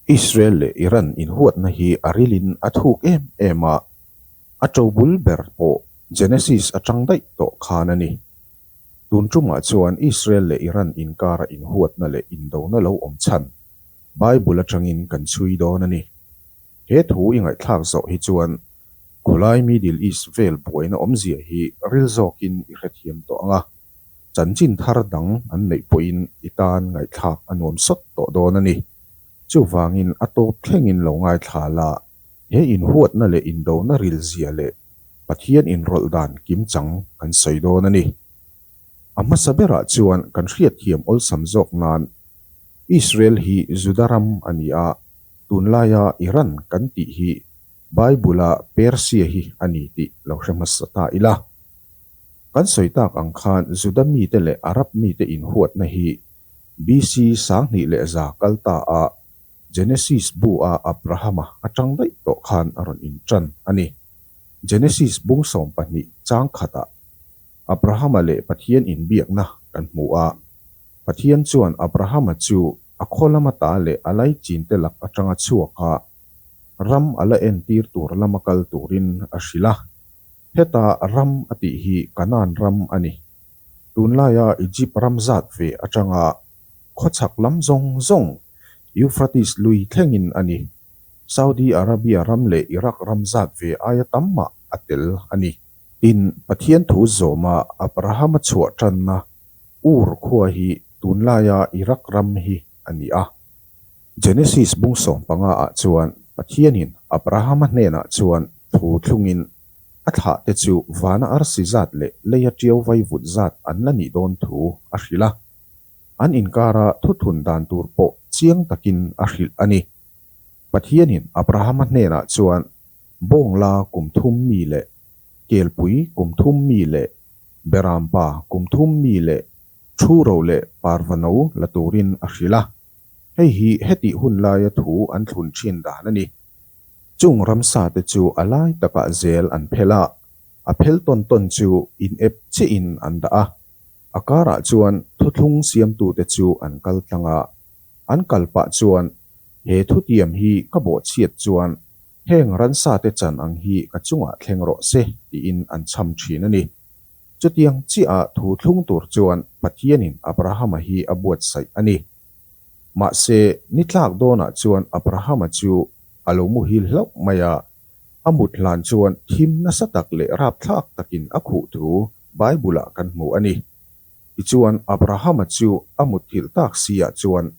Israel leh Iran inhuatna hi a rilin a thuk em em a, a ṭo bul ber pawh Genesis aṭang daih tawh khan a ni. Tun ṭumah chuan Israel leh Iran inkara inhuatna leh indona lo awm chhan Bible aṭangin kan chhui dawn a ni. He thu i ngaihthlak zawh hi chuan khawlai Middle East vel buaina awmzia hi ril zawkin i hrethiam tawh ang a, chanchin thar dang an neih pawhin i tan ngaihthlak a nuam sawt tawh dawn a ni. Chuvangin a tawp thlengin lo ngaithla la, he inhuatna leh indona rilzia leh Pathian inrawlh dan kim chang kan sawi dawn a ni. A hmasa berah chuan kan hriatthiam awlsam zawk nan, Israel hi Juda ram a ni a, tunlaia Iran kan tih hi Bible-a Persia hi a ni tih lo hre hmasa ta ila. Kan sawi tak ang khan Juda mite leh Arab mite inhuatna hi BC sanghnih leh za kal taah Genesis bu-a Abraham-a a ṭang daih tawh khan a rawn inṭan a ni. Genesis bung sawm pahnih chang khatah, Abrahama leh Pathian inbiakna kan hmu a, Pathian chuan Abrahama chu a khaw lama ta leh a laichinte lak atanga chhuaka ram a la entir tur lama kal turin a hrilh a. Heta ram a tih hi Canaan ram a ni. Tunlaia Egypt ram zat ve atanga khawchhak lam zawng zawng Euphrates lui thlengin a ni. Saudi Arabia ram leh Iraq ram zat ve aia tam mah a tel a ni. Tin, Pathian thu zawma Abrahama chhuah tanna Ur khua hi tunlaia Iraq ram hi a ni a. Genesis bungsawm panga ah chuan Pathianin Abrahama hnenah chuan thu thlungin a thlah te chu vana arsi zat leh leia ṭio vai vut zat an la nih dawn thu a hrilh a. An inkara thuthun dan tur pawh chiang takin a hrilh a ni. Pathianin Abrahama hnenah chuan Bawngla kum thum mi leh Kelpui kum thum mi leh Berampa kum thum mi leh Thuro leh Parvano la turin a hrilh a, hei hi hetih hun laia thu an thlun thin dan a ni. Chung ramsa te chu a lai takah zel an phelh a, a phel tawn tawn chu inep chiahin an dah a. A karah chuan thuthlung siamtute chu an kal tlang a, an kal pah chuan he thutiam hi ka bawh chhiat chuan heng ransate chan ang hi ka chungah thleng rawh se tiin an chham thin a ni. Chutiang chiaha thu thlung tur chuan Pathianin Abrahama hi a buatsaih a ni. Mahse, ni tlak dawnah chuan Abrahama chu a lo muhil hlauh mai a, a mut hlan chuan thim nasa tak leh rapthlak takin a khuh thu Bible-ah kan hmu a ni. Tichuan, Abrahama chu a mutthilh tak siah chuan,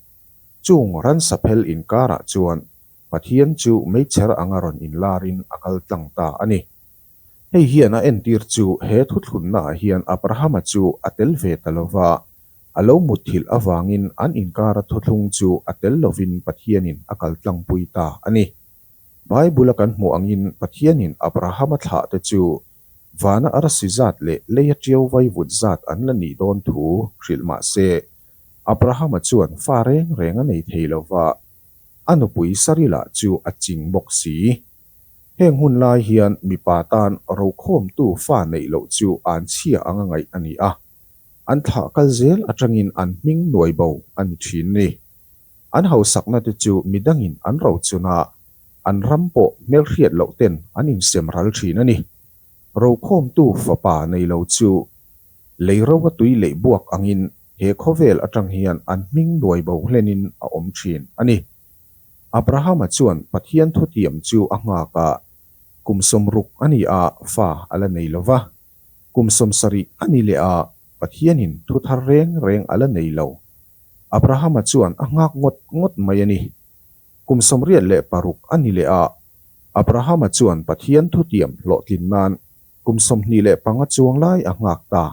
chung ransa phel inkarah chuan Pathian chu meichher anga rawn inlarin a kal tlang ta a ni. Hei hian a entir chu he thuthlunnaah hian Abrahama chu a tel ve ta lo va, a lo mutthilh avangin an inkara thuthlung chu a tel lovin Pathianin a kal tlangpui ta a ni. Bible-a kan hmuh angin Pathianin Abrahama thlahte chu Vana a rasi zat leh leia ṭio vaivut zat an la nih dawn thu hrilh mah se, Abrahama chuan fa reng reng a nei thei lo va, a nupui Sarila chu a ching bawk si. Heng hun lai hian mipa tan rokhawmtu fa neih loh chu an chhia anga ngaih a ni a, an thah kal zel aṭangin an hming nuaibo a ni ṭhin ni. An hausakna te chu mi dangin an rochun a, an ram pawh hmelhriat loh ten an insiam ral thin a ni. Rokhawmtu fapa nei lo chu lei roa tui leih buak angin he khawvel atang hian an hming nuai bo hlenin a awm thin a ni. Abrahama chuan Pathian thutiam chu a nghakah kum sawm ruk a ni a fa a la nei lo va. Kum sawm sarih a ni leh a, Pathianin thu thar reng reng a la nei lo. Abrahama chuan a nghak ngawt ngawt mai a ni. Kum sawm riat leh paruk a ni leh a, Abrahama chuan Pathian thu tiam hlawhtlin nan kum sawm hnih leh panga chuang lai a nghak ta.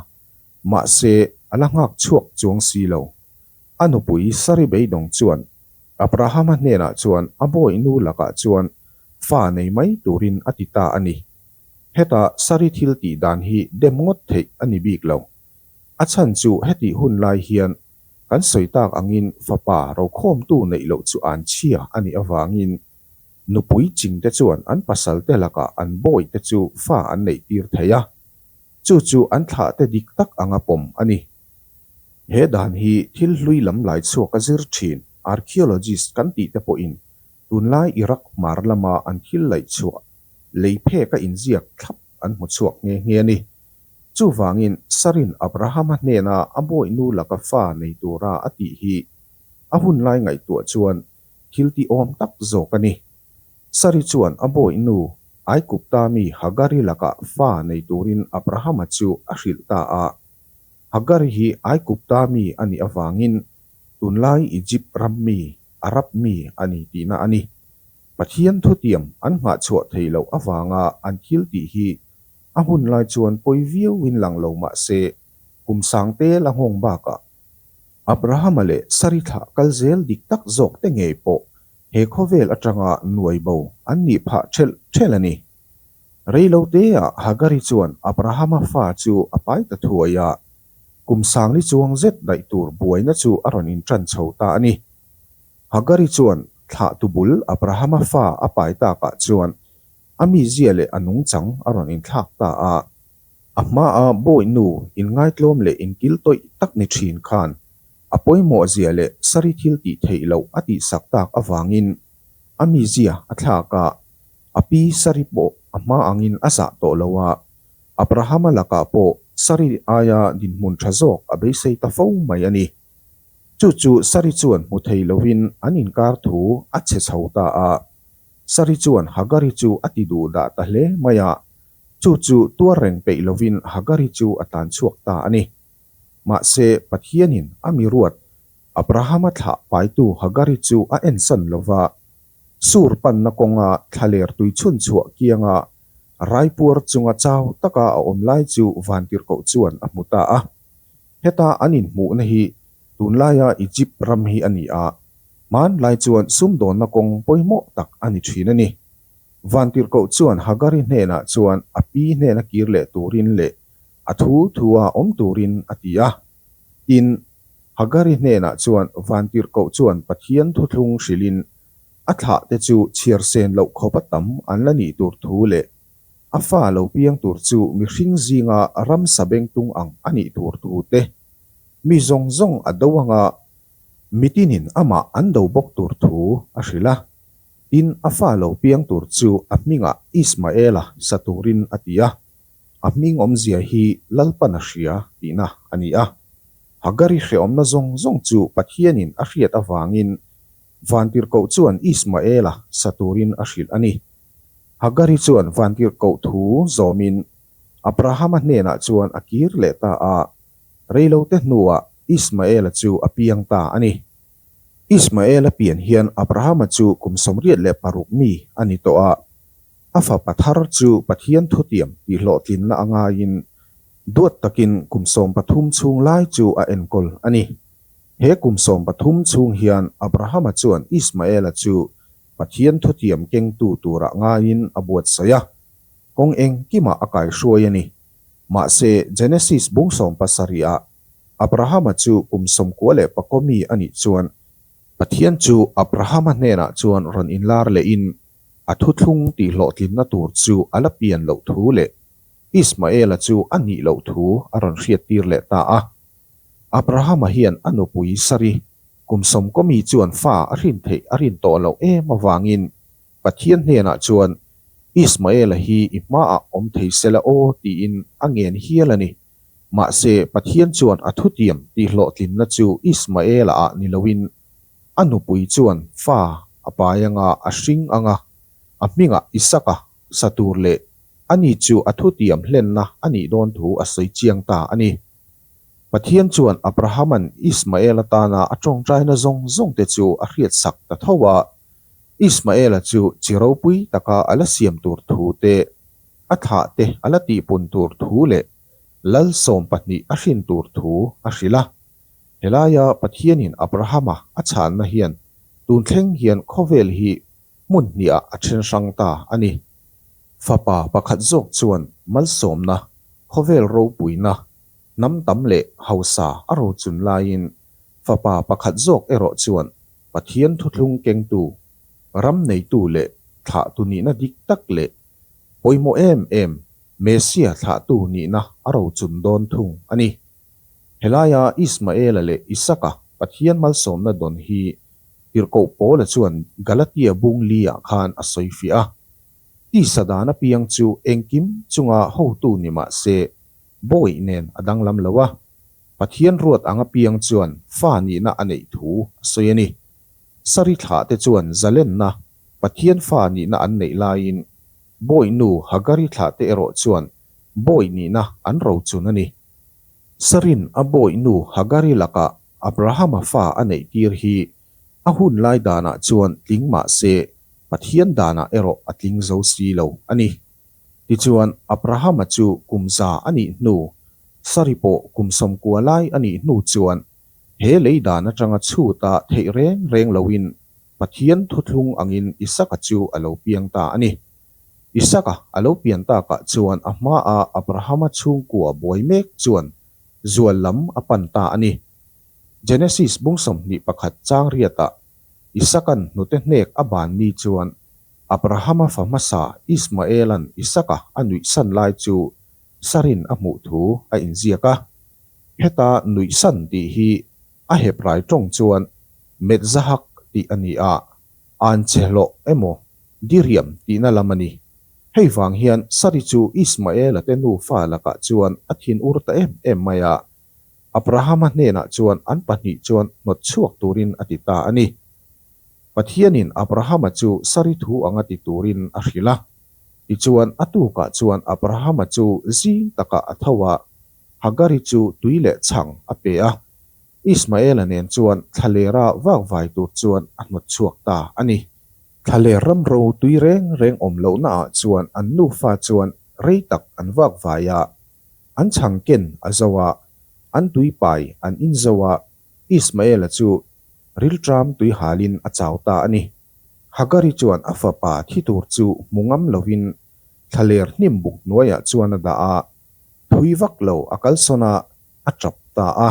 Mahse, a la nghak chhuak chuang si lo. A nupui Sari beidawng chuan Abrahama hnenah chuan a bawihnu lakah chuan fa nei mai turin a ti ta a ni. Heta saree thil tih dan hi dem ngawt theih a ni bik lo. A chhan chu heti hun lai hian kan sawi tak angin fapa rokhawmtu neih loh chu an chhia a nih avangin nupui ching te chuan an pasalte lakah an bawi te chu fa an neih tir thei a, chu chu an thlah te dik tak anga pawm a ni. He dan hi thil hlui lam lai chhuak a zir thin, archaeologist kan tih te pawhin Tunlai Iraq mar lama an thil laih chhuah lei phek a inziak thlap an hmu chhuak nghe nghe a ni. Chuvangin Sarin Abrahama hnena a bawihnu laka fa nei tura a tih hi a hun lai ngaihtuah chuan thiltih awm tak zawk a ni. Sari chuan a bawihnu Aigupta mi Hagari laka fa nei turin Abrahama chu a hrilh ta a. Hagari hi Aigupta mi a nih avangin tunlai Egypt ram mi, Arab mi a ni tihna a ni. Pathian thutiam an nghahchhuah thei loh avanga an thil tih hi a hun lai chuan pawi viauin lang lo mahse, kum sang tel a nghawng bakah, Abrahama leh Sari thlah kal zel dik tak zawk te ngei pawh he khawvel atanga nuaibo an nih phah ṭhelh ṭhelh a ni. Reilo teah Hagari chuan Abrahama fa chu a pai ta thuai a, kum sangni chuang zet daih tur buaina chu a rawn inṭan chho ta a ni. Hagari chuan thlah tu bul Abrahama fa a pai takah chuan a mizia leh a nungchang a rawn inthlak ta a. A hmaah bawihnu inngaitlawm leh inkiltawih tak ni ṭhin khan A pawimawhzia leh saree thil tih theih loh a tihsak tak avangin a mizia a thlak a, a pi saree pawh a hma angin a zah tawh lo a. Abrahama lakah pawh saree aia dinhmun tha zawk a beisei ta fo mai a ni. Chu chu saree chuan hmu thei lovin an inkar thu a chhe chho ta a. Saree chuan Hagari chu a ti duh dah ta hle mai a, chu chu tuar reng peih lovin Hagari chu a tlanchhuak ta a ni. Mahse, Pathianin a miruat Abrahama thlah paitu Hagari chu a ensan lo va. Sur panna kawnga thla lertui chhunchhuah kianga raipuar chunga chau taka a awm lai chu vantirhkoh chuan a hmu ta a. Heta an inhmuhna hi tunlaia Egypt ram hi a ni a, hmanlai chuan sumdawnna kawng pawimawh tak a ni thin a ni. Vantirhkoh chuan Hagari hnenah chuan a pi hnena kir leh turin leh a thu thu a awm turin a ti a. Tin, Hagari hnenah chuan Vantirhkoh chuan Pathian thuthlung hrilhin a thlah te chu chhiarsen loh khawpa tam an la nih tur thu leh a fa lo piang tur chu mihring zinga ramsa bengtung ang a nih tur thu te, mi zawng zawng a do anga mitinin amah an do bawk tur thu a hrilh a. Tin, a fa lo piang tur chu a hmingah Ismaela sa turin a ti a. A hming awmzia hi Lalpan a hria tihna a ni a. Hagari hreawmna zawng zawng chu Pathianin a hriat avangin Vantirhkoh chuan Ismaela sa turin a hrilh a ni. Hagari chuan Vantirhkoh thu zawmin Abrahama hnenah chuan a kir leh ta a, reilote hnuah Ismaela chu a piang ta a ni. Ismaela pian hian Abrahama chu kum sawmriat leh paruk mi a ni tawh a. A fapa thar chu Pathian thutiam tih hlawhtlinna a ngaiin duat takin kum sawm pathum chhung lai chu a enkawl a ni. He kum sawm pathum chhung hian Abrahama chuan Ismaela chu Pathian thutiam kengtu turah ngaiin a buatsaih a, kawng engkimah a kaihruai a ni. Mahse, Genesis bung sawm pasarihah Abrahama chu kum sawm kua leh pakua mi a nih chuan, Pathian chu Abrahama hnenah chuan rawn inlar lehin A thu thlung tih hlawhtlinna tur chu a la pian loh thu leh Ismaela chu a nih loh thu a rawn hriattir leh ta a. Abrahama hian a nupui Sari kum sawmkawmi chuan fa a hrin theih a rin tawh loh em avangin Pathian hnenah chuan Ismaela hi i hmaah awm thei sela aw tiin a ngen hial a ni. Mahse, Pathian chuan a thutiam tihhlawhtlinna chu Ismaela-ah ni loin, a nupui chuan fa a pai anga a hring ang a, a hmingah Isaka sa tur leh a ni chu a thutiam hlenna a nih dawn thu a sawi chiang ta a ni. Pathian chuan Abrahaman Ismaela tana a ṭawngṭaina zawng zawngte chu a hriatsak ta tho a, Ismaela chu chi ropui taka a la siam tur thu te A thah te a la tih pun tur thu leh Lalsawm pahnih a hrin tur thu a hrilh a. Helaia Pathianin Abrahama a chhanna hian tun thleng hian khawvel hi hmun hniah a then hrang ta a ni. Fapa pakhat zawk chuan malsawmna, khawvel ropuina, hnam tam leh hausa a rochun laiin fapa pakhat zawk erawh chuan Pathian thuthlung kengtu, ram neitu leh thlah tu nihna dik tak leh Pawimawh em em, Messia thlahtu nihna a rochun dawn thung a ni. Helaia Ismaela leh Isaka Pathian malsawmna dawn hi tirhkoh Paula chuan Galatia bung liah khan a sawi fiah a. Tisa dan apiang chu engkim chunga hotu ni mah se, bawi nen a danglam lo a. Pathian ruat ang apiang chuan fa nihna a neih thu a sawi a ni. Sarithlah te chuan zalenna Pathian fa nihna an neih laiin bawi nu Hagari thlah te erawh chuan bawi nihna an ro chun a ni. Sarin a bawi nu Hagari lakah Abrahama fa a neih tir hi a hun lai danah chuan tling mah se Pathian danah erawh a tling zo si lo a ni. Tichuan, Abrahama chu kum za a nih hnu, Sari pawh kum sawmkua lai a nih hnu chuan He lei dan atanga chhuta theih reng reng loin Pathian thuthlung angin Isaka chu a lo piang ta a ni. Isaka a lo pian takah chuan a hmaa Abrahama chhungkua buai mek chuan zual lam a pan ta a ni. Genesis bung sawmhnih pakhat changriatah Isaka'n hnute hnek a ban mi chuan Abrahama fa hmasa Ismaela'n Isaka a nuihsan lai chu Sarin a hmuh thu a inziak a. Heta nuihsan tih hi a hep rai tawng chuan Metzahak tih a ni a, Aanchehloh emaw Diriam tihna lam a ni. Hei vang hian Sari chu Ismaela te nufa lakah chuan a thin ur ta em em mai a, Abrahama hnenah chuan an pahnih chuan hnawt chhuak turin a ti ta a ni. Pathianin Abrahama chu Sari thu anga ti turin a hrilh a, tichuan a tukah chuan Abrahama chu zing takah a tho a, Hagari chu tui leh chhang a pe a, Ismaela nen chuan thlaleira vak vai tur chuan a hnawt chhuak ta a ni. Thlaleir ram ro tui reng reng awm lohnaah chuan an nufa chuan rei tak an vak vai a, an chhang ken a zo a, an tuipai an in zo a, Ismaela chu rilṭam tui halin a chau ta a ni. Hagari chuan a fapa thi tur chu hmu ngam lovin thlaleir hnim buk hnuaiah chuan a dah a, Thui vak lo a kalsawn a, a tap ta a.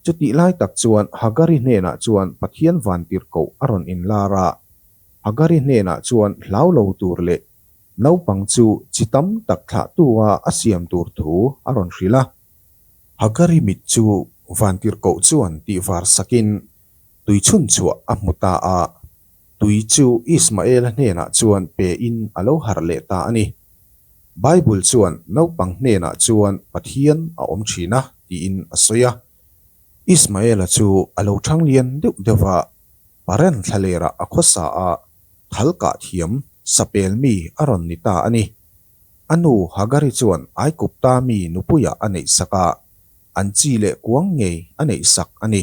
Chutih lai tak chuan Hagari hnenah chuan Pathian vantir koh a rawn inlar a. Hagari hnenah chuan hlau lo tur leh naupang chu chi tam tak thlahtu a a siam tur thu a rawn hrilh a. Hagari mit chu vantir koh chuan tihvar sakin tui chhunchhuah a hmu ta a. Tui chu Ismaela hnenah chuan pein a lo harh leh ta a ni. Bible chuan naupang hnenah chuan Pathian a awm thin a tiin a sawi a. Ismaela chu a lo chhang lian deuh deuh a, parent thlalera a khawsa a, thal kah thiam sapel mi a rawn ni ta a ni. A nu Hagari chuan Aikupta mi nupuia a neihsak a, an chi leh kuang ngei a neihsak a ni.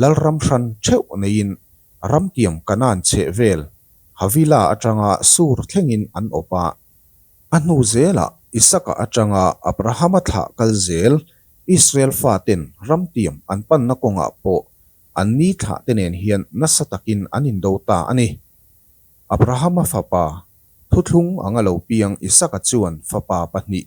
Lalram hran theuh neiin ramtiam Kanan chheh vel Havila atanga sur thlengin an awp a. A hnu zela Isaka atanga Abrahama thlah kal zel Israel faten ramtiam an panna kawngah pawh an ni thlahte nen hian nasa takin an indo ta a ni. Abrahama fapa, thuthlung anga lo piang Isaka chuan fapa pahnih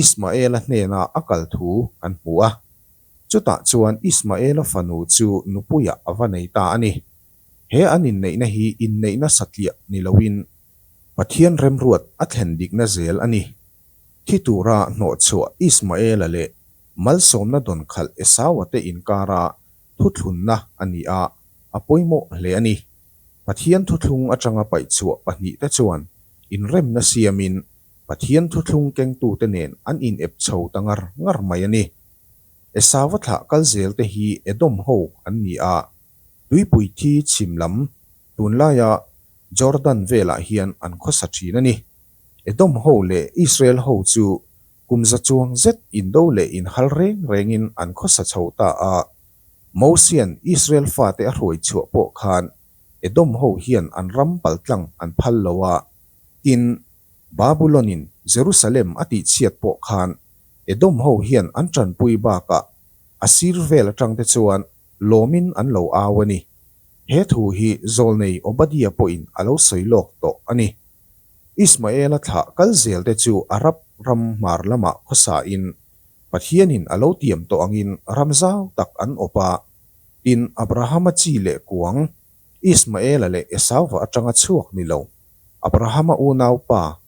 Ismaela hnenah a kal thu kan hmu a, chutah chuan Ismaela fanu chu nupuiah a va nei ta a ni. He an inneihna hi inneihna satliah ni loin Pathian remruat a thlen dikna zel a ni. Thi tura hnawhchhuah Ismaela leh malsawmna dawn khalh Esau-a te inkara thuthlunna a ni a, a pawimawh hle a ni. Pathian thuthlung atanga paihchhuah pahnih te chuan inremna siamin Pathian thuthlung kengtute nen an inep chho ta ngar ngar mai a ni. Esava thlah kal zelte hi Edom ho an ni a, tuipui thi chhim lam, tunlaia Jordan velah hian an khawsa thin a ni. Edom ho leh Israel ho chu kumza chuang zet indo leh inhal reng rengin an khawsa chho ta a, Mosian Israel fate a hruai chhuah pawh khan Edom ho hian an ram pal tlang an phal lo a, tin, Babulonin Jerusalem a tihchhiat pawh khan Edom ho hian an tanpui bakah Asir vel atangte chuan lawmin an lo au a ni. He thu hi zawlnei Obadiah pawhin a lo sawi lawk tawh a ni. Ismaela thlah kal zelte chu Arab ram hmar lamah khawsahin Pathianin a lo tiam tawh angin ram zau tak an awp a, tin Abrahama chi leh kuang, Ismaela leh Esau-a atanga chhuak ni lo. Abrahama unaupa,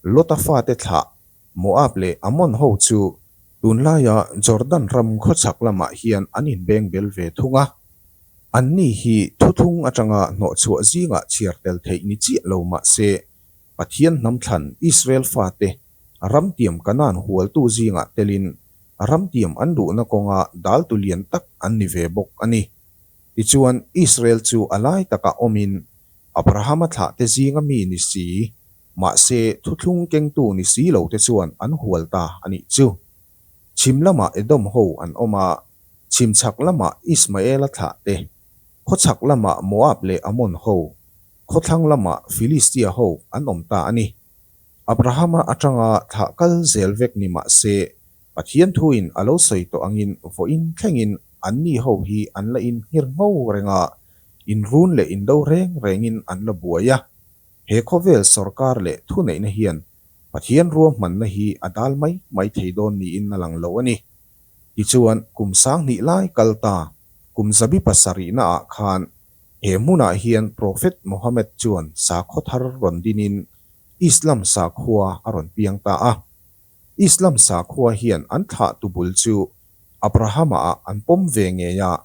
Lota fate thlah, Moab leh Ammon ho chu, tun laia Jordan ram khawchhak lamah hian an inbeng bel ve thung a, anni hi thuthung atanga hnawhchhuah zingah chhiar tel theih ni chiah lo mah se, Pathian hnam thlan Israel fate A ramtiam kanan hualtu zingah telin a ramtiam an duhna kawnga daltu lian tak an ni ve bawk a ni. Tichuan, Israel chu a lai takah awmin Abrahama thlahte zinga mi ni si, mahse, thuthlung kengtu ni si lote chuan an hual ta a nih chu. Chhim lamah Edom ho an awm a, chhim chhak lamah Ismaela thlahte, khaw chhak lamah Moab leh Ammon ho, khaw thlang lamah Filistia ho an awm ta a ni. Abrahama atanga thlah kal zel vek ni mah se, Pathian thuin a lo sawi tawh angin vawiin thlengin anni ho hi an la inhnghir ngho reng a, inrun leh indo reng rengin an la buai a. He khawvel sorkar leh thuneihna hian Pathian rua hmanna hi a dal mai mai thei dawn niin a lang lo a ni. Tichuan, kum sang hnih lai kal ta, kum zabi pasarihna ah khan He hmunah hian Prophet Mohammed chuan sakhaw thar rawn dinin Islam sakhua a rawn piang ta a. Islam sakhua hian an thlah tu bul chu Abrahama ah an pawm ve ngei a,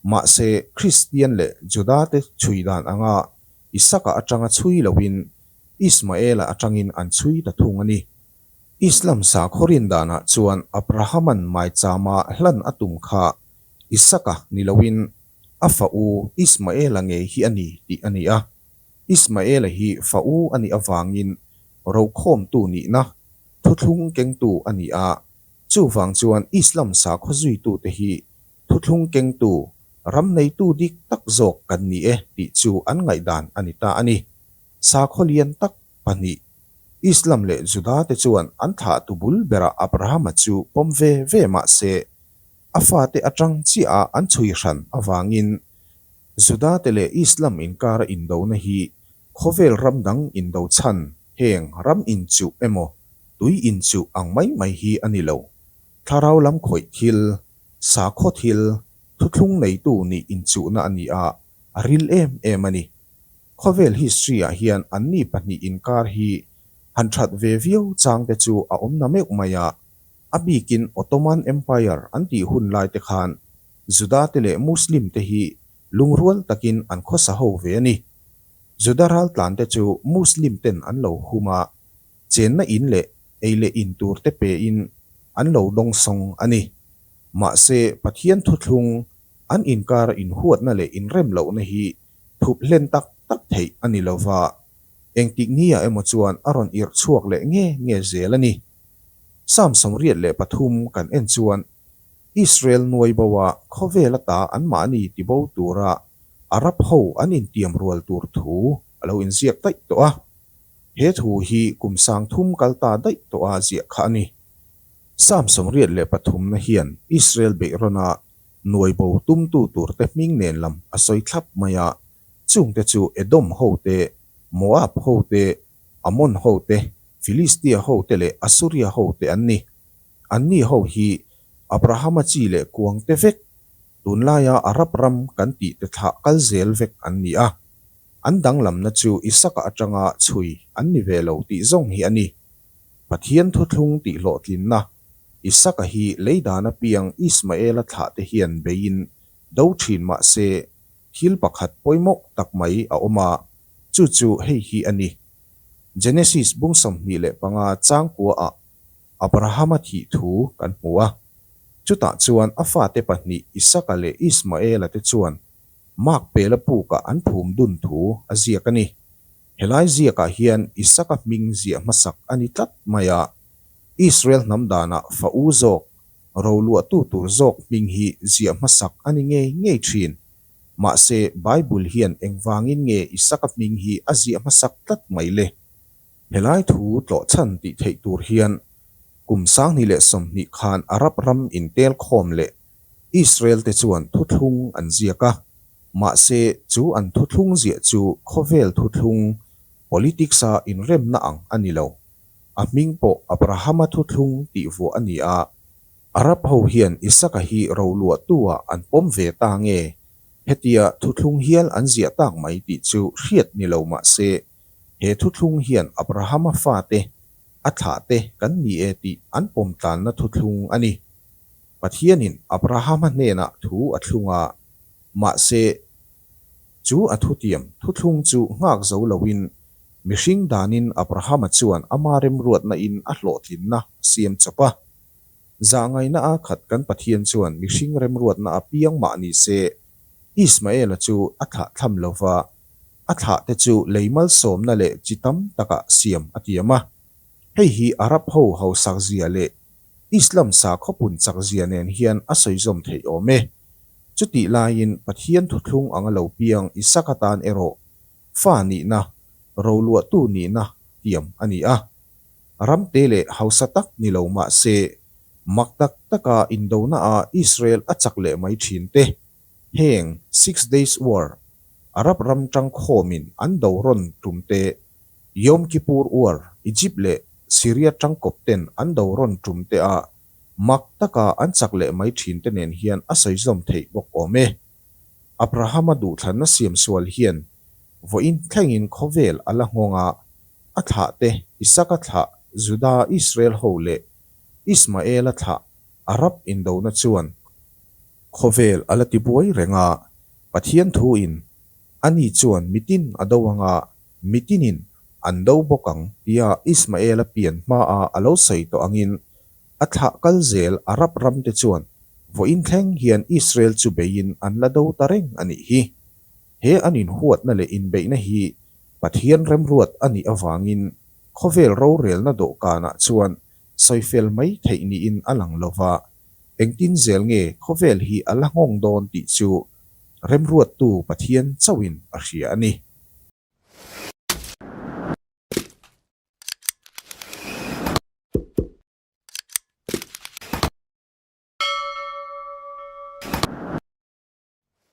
mahse Kristian leh Juda te chhui dan anga Isaka atanga chhui loin Ismaela atangin an chhui ta thung a ni. Islam sakhaw rindanah chuan Abrahaman maichama hlan a tum kha Isaka ni loin A fa u Ismaela ngei hi a ni tih a ni a. Ismaela hi fa u a nih avangin rokhawmtu nihna, thuthlung kengtu a ni a. Chuvang chuan Islam sakhaw zuitute hi thuthlung kengtu, ram neitu dik tak zawk kan ni e tih chu an ngaihdan a ni ta a ni. Sakhaw lian tak pahnih, Islam leh Juda te chuan an thlah tu bul berah Abrahama chu pawm ve ve mah se, A fate atang chiaha an chhui hran avangin Judate leh Islam inkara indona hi khawvel ram dang indo chhan heng ram inchuh emaw tui inchuh ang mai mai hi a ni lo. Thlarau lam khawih thil, sakhaw thil, thuthlung neitu nih inchuhna a ni a, a ril em em a ni. Khawvel history ah hian anni pahnih inkar hi han that ve viau changte chu a awm na meuh mai a, A bikin Ottoman Empire an tih hun laite khan Judate leh Muslimte hi lungrual takin an khawsa ho ve a ni. Juda ral tlante chu Muslimten an lo hum a, chenna in leh ei leh in turte pein an lo dawng sawng a ni. Mahse, Pathian thuthlung an inkara inhuatna leh inrem lohna hi thup hlen tak tak theih a ni lova, engtikngia emaw chuan a rawn irh chhuak leh nge nge zel a ni. Psalm sawmriat leh pathum kan en chuan, Israel nuaiboa khawvel ata anmah a ni ti bo tura Arab ho an intiam rual tur thu a lo inziak daih tawh a. He thu hi kum sangthum kal ta daih tawha ziah kha a ni. Psalm sawmriat leh pathumna hian Israel beih rawnah nuaibo tumtu turte hming nen lam a sawi thlap mai a, Chungte chu Edom hote, Moab hote, Ammon hote, Filistia hote leh Assuria hote an ni. Anni ho hi Abrahama chi leh kuangte vek, tunlaia Arab ram kan tihte thlah kal zel vek an ni a. An danglamna chu Isaka atanga chhui an ni ve lo tih zawng hi a ni. Pathian thuthlung tihhlawhtlinna, Isaka hi leidan apiang Ismaela thlahte hian beiin do thin mahse, Thil pakhat pawimawh tak mai a awm a, chu chu hei hi a ni, Genesis bung sawmhnih leh panga changkuaah Abrahama thih thu kan hmu a. Chutah chuan a fate pahnih Isaka leh Ismaela te chuan Makpela pukah an phum dun thu a ziak a ni. Helai ziakah hian Isaka hming ziah hmasak a ni tlat mai a, Israel hnam danah fa u zawk, ro luahtu tur zawk hming hi ziah hmasak a ni ngei ngei thin. Mahse, Bible hian engvangin nge Isaka hming hi a ziah hmasak tlat mai le? Helai thu tlawh chhan tih theih tur hian, kum sanghnih leh sawmhnih khan Arab ram intel khawm leh Israel-te chuan thuthlung an ziak a, mahse chu an thuthlung ziah chu khawvel thuthlung, politics-a inremna ang a ni lo. A hming pawh Abraham-a thuthlung tih vuah a ni a. Arab ho hian Isaka hi ro luahtu-a an pawm ve ta nge, hetia thuthlung hial an ziah tak mai tih chu hriat ni lo mahse, He thuthlung hian Abrahama fate, a thlahte kan ni e tih an pawmtlanna thuthlung a ni. Pathianin Abrahama hnenah thu a thlung a, mahse, chu a thutiam thuthlung chu nghak zo loin mihring danin Abrahama chuan ama remruatnain a hlawhtlinna a siam chawp a. Zah ngaihna a khat kan Pathian chuan mihring remruatna a piang mah ni se, Ismaela chu a thlah thlam lo va, a thlah te chu lei malsawmna leh chi tam takah siam a tiam a. Hei hi Arab ho hausak zia leh Islam sakhaw punchak zia nen hian a sawizawm theih awm e. Chutih laiin Pathian thuthlung anga lo piang Isaka tan erawh fa nihna, roluahtu nihna tiam a ni a. Ram te leh hausa tak ni lo mah se, mak tak taka indona a Israel a chak leh mai thin te, heng Six Days War, Arab ram tang khawm in an do rawn tum te, Yom Kippur War, Egypt leh Syria tang kawp ten an do rawn tum te a mak taka an chak leh mai thin te nen hian a sawizawm theih bawk awm e. Abrahama duhthlanna siam sual hian vawiin thlengin khawvel a la nghawng a, A thlah te, Isaka thlah, Juda, Israel ho leh Ismaela thlah a rap indona chuan khawvel a la ti buai reng a. Pathian thu in, Ani chuan mitin a do anga, mitinin an do bawk ang tia Ismaela pian hmaa a lo sawi tawh angin, a thlah kal zel a rap ramte chuan vawiin thleng hian Israel chu beiin an la do ta reng a nih hi. He an inhuatna leh inbeihna hi Pathian remruat a nih avangin khawvel rorelna dawhkanah chuan sawi fel mai theih niin a lang lo va, engtin zel nge khawvel hi a la nghawng dawn tih chu remruattu Pathian chauhin a hria a ni.